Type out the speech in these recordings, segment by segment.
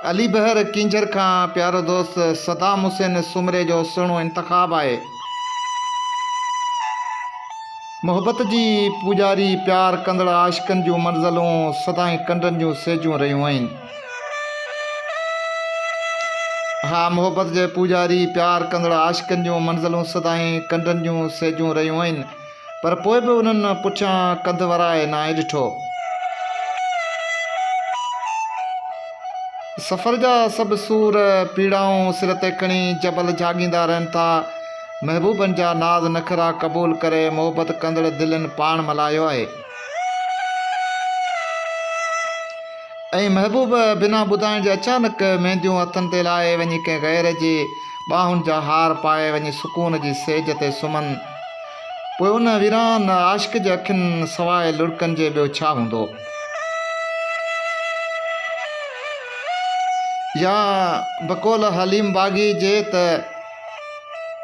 علي بحر ڪينجهر کان پيارو دوست صدام حسين سومري جو سهڻو انتخاب آهي. محبت جي پوڄاري پيار ڪندڙ عاشقن جون منزلون سدائين ڪنڊن جون سيجون رهيون آهن. ها محبت جي پوڄاري پيار ڪندڙ عاشقن جون منزلون سدائين ڪنڊن جون سيجون رهيون آهن. پر پوء به انهن پٺيان ڪنڌ ورائي ناهي ڏٺو. سفر جا سڀ سور، پيڙائون سر تي کڻي جبل جهاڳيندا رهن ٿا. محبوبن جا ناز نخرا قبول ڪري محبت ڪندڙ دلين پاڻ ملهايو آهي. ۽ محبوب بنا ٻڌائڻ جي اچانڪ مينديون هٿن تي لاهي وڃي ڪنهن غير جي ٻانهن جا هار پائي وڃي سڪون جي سيج تي سمهن پوء ان ويران عاشق جي اکين سواء لڙڪن جي ٻيو ڇا هوندو؟ يا بقول حليم باغي جي ته،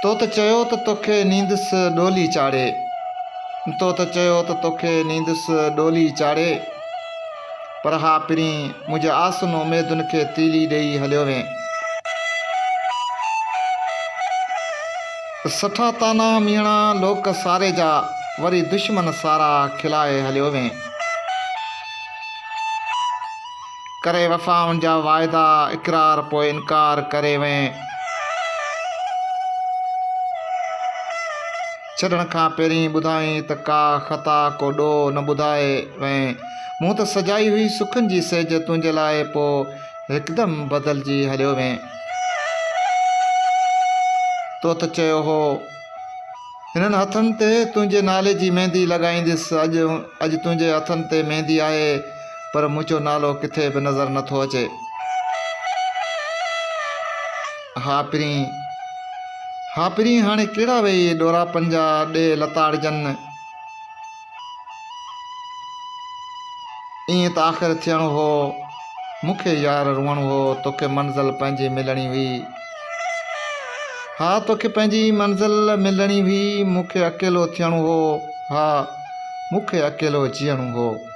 تو ته چيو ته توکي نيندس ڏولي چاڙهي، تو ته چيو ته توکي نيندس ڏولي چاڙهي. پر اھا پرين منھنجي آسن اميدن کي تيلي ڏيئي ھليو وين. سٺا طعنا ميڻا لوڪ ساري جا، وري دشمن سارا کلائي ھليو وين. ڪري وفائن جا واعدا اقرار پوء انڪار ڪري وين. ڇڏڻ کان پهرين ٻڌائين ته ڪا خطا ڪو ڏوهه نه ٻڌائي وئين. مون ته سجائي هئي سکن جي سيج تنهنجي لاء پوء هڪدم بدلجي هليو وئين. تو ته چيو هو هنن هٿن تي تنهنجي نالي جي ميندي لڳائينديس اڄ اڄ تنهنجي هٿن تي ميندي آهي. پر منهنجو نالو ڪٿي به نظر نه ٿو اچي. ها پرينء، ها پرينء هاڻي ڪهڙا ويهي ڏوراپن جا ڏيهه لتاڙجن. ائين ته آخر ٿيڻو هو، مون کي يار روئڻو هو، توکي منزل پنهنجي ملڻي هئي. ها توکي پنهنجي منزل ملڻي هئي، مون کي اڪيلو ٿيڻو هو، ها مون کي اڪيلو جيئڻو هو.